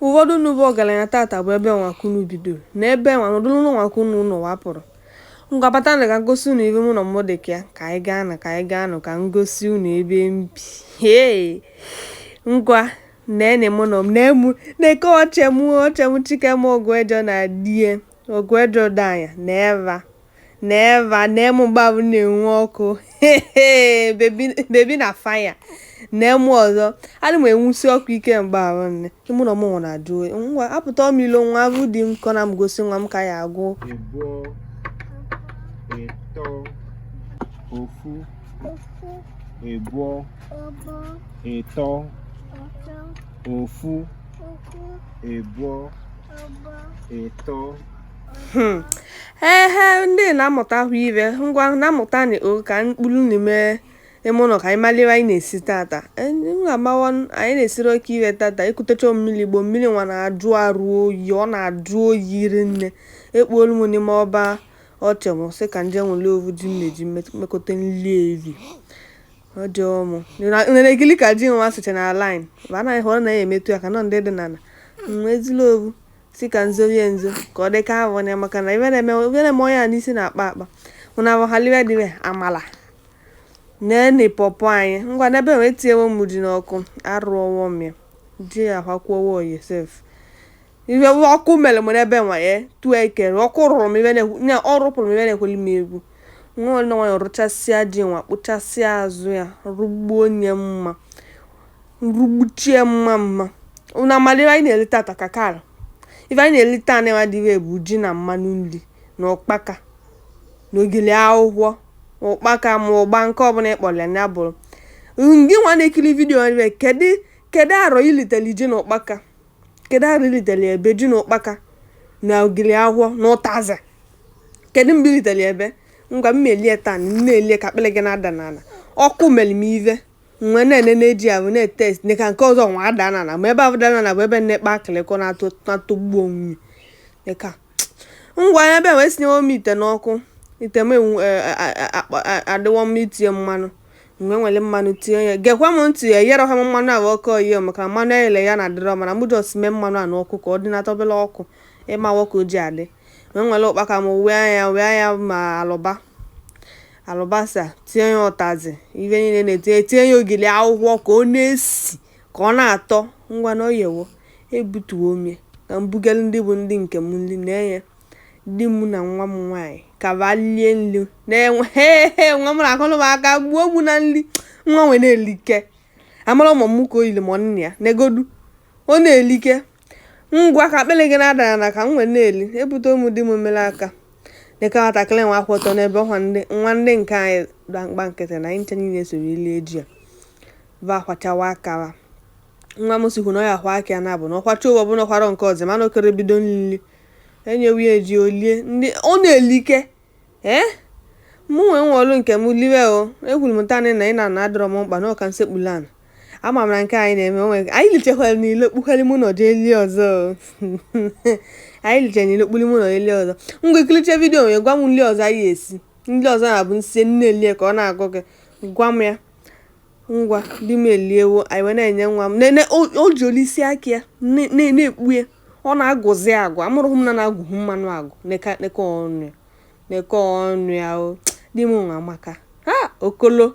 ụfọdụ unu bụ ọgaranya tata bụ ebe nwa ka unu bidoro na ebe nwa nọdụrụ na nwa ka unu nọ wapụrụ ngwa bata nụ ka ngosi unu ive ime ụnọ m dị ka ya ka anyị gaa nụ ka anyị gaa nụ ka ngosi unu ebe m bi hee ngwa nene ime ụnọ m nee mụ na-eke ọche mụ ọche mụ chike m ọgụ ejọ na die ọgụ ejọ danya na eva Never, nee mụ mgbabu na-enwu ọkụ. Baby baby na fire. Nee mụ ọzọ. Adị m enwusi ọkụ ike mgbe ahụ nne. Ime ụnọ mụ nwa na-ajụ oyi. Ngwa apụta m ilo nwa avụ di m ka ọ na-egosi nwa m ka ya agụ. Ịbụọ, ịtọ, ofu, ịbụọ, ịtọ, ofu, ịbụọ, ịtọ. Hmm. ehe ndị na-amụta ahụ ive ngwa na-amụta na o ka mkpụrụ n'ime ime ụlọ ka anyị malụ ive anyị na-esi tata e, amawa anyị na-esiri oke ive tata ekutecha mmiri igbo mmiri nwa na-ajụ arụ oyi ọ na-ajụ oyi ri nne ekpuolu m n'ime ọba ọche m sị ka nje nwere ovu ji m na-eji mekọta nri eri ọjọọ m nere gịlị ka ji nwa sịcha na line bụ anaghị hụrụ na ya emetụ ya aka nọ ndị dị n'ala ezila ovu sị ka nzorie nzo ka ọ dị ka avọ ya maka na ive na-eme ive na-eme onye a n'isi na-akpa akpa ụna bụ halibe dịbe amala nene pọpọ anyị ngwa n'ebe wee tinyewo m ji n'ọkụ arụọwo m ya ji ya akwakwuowo oyi sef ive ọkụ mere m n'ebe nwa ya tụọ ekere ọkụ rụrụ m ive na-ekwu na ọ rụpụrụ m ive na-ekweli m egwu nwa nwanyị rụchasịa ji nwa kpụchasịa azụ ya rụgbuo onye mma Rugbuchie mma mma. Unu amara ife anyị na-eri tata ka kara. Ife anyị na-eri taa na dị ire bụ ji na mmanụ nri na ụkpaka na ogili akwụkwọ ụkpaka ma ụgba nke ọbụla ị kpọrọ ya na ya bụrụ. Gị nwa na-ekiri video ebe kedu kedu arọ i litere ji na ụkpaka? Kedu arọ i litere ya ebe ji na ụkpaka na ogili akwụkwọ na ụtazị? Kedu mgbe i litere ya ebe? Ngwa m melie taa, m na-elie ka akpịrị gị na-ada n'ala. Ọkụ mere m ive. m wee na-enene ji ahụ na-etest ne ka nke ọzọ nwa ada n'ana ma ebe ahụ dara n'ana bụ ebe nnekpa akịlịkọ na-atọ na-atọgbu onwe ya ka ngwa ya ebe wee sinyewo m ite n'ọkụ ite m enwu- e- e- a- akpa- a- adịwọ mma itinye mmanụ mgbe m were mmanụ tinye ya gekwa m ntị ya eyere ha m mmanụ ahụ ọkụ oyi maka na mmanụ eyele eye na-adịrọ mana mụ just mee mmanụ a n'ọkụ ka ọ dị na-atọbele ọkụ ị mawa ka o ji adị wee were ụkpaka m wee ya wee ya ma alụba alụbasa tinye ya ụtazị ife niile na-etinye tinye ya ogili akwụkwọ ka ọ na-esi ka ọ na-atọ ngwa na o yewo ebutuo m ya ka m bugara ndị bụ ndị nke m nri na enye di m na nwa m nwaanyị ka ba lie nri na-enwe "Hee, nwa m na-akụrụ m aka gbuo m na nri nwa nwere na-elike amara ụmụ m ka o yiri m nne ya negodu ọ na-elike Ngwa ka akpịrị gị na-ada n'ala ka m wee na-eli, ebutere m di m mmiri aka. Dịka nwatakịrị nwa akwụ ọtọ n'ebe ọkwa ndị nwa ndị nke anyị gba mkpa nkịtị na anyị ncha niile soro ili eji ya bụ akwọchawa aka. Nwa m sikwu na ọ ya-akwọ aka ya na-abụ na ọ kwọcha ụwa ọbụla ọ kwọọ nke ọzọ mana okere bido nlili enyewe ya eji olie ndị ọ na-elike ee mụ nwee nwa ọrụ nke m liwe o ekwuru m taanị na ịnọ ana adịrọ m mkpa na ọ ka m sekpuru ana ama m na nke anyị na-eme onwe anyị lichekwara n'ile kpukwere mụ na eli ọzọ anyị liche n'ile kpuri mụ na eli ọzọ ngwa i kiricha vidiyo nwere gwa m nri ọzọ anyị esi ndị ọzọ na-abụ nsi nne elie ka ọ na-agụ gị gwa m ya ngwa di m eliewo anyị wee na-enye nwa m nene o ji olisi aka ya na-ekpu ya ọ na-agụzi agụ amụrụghị m na na-agụghị mmanụ agụ neke ọnụ ya neke ọnụ ya o di m nwa amaka ha okolo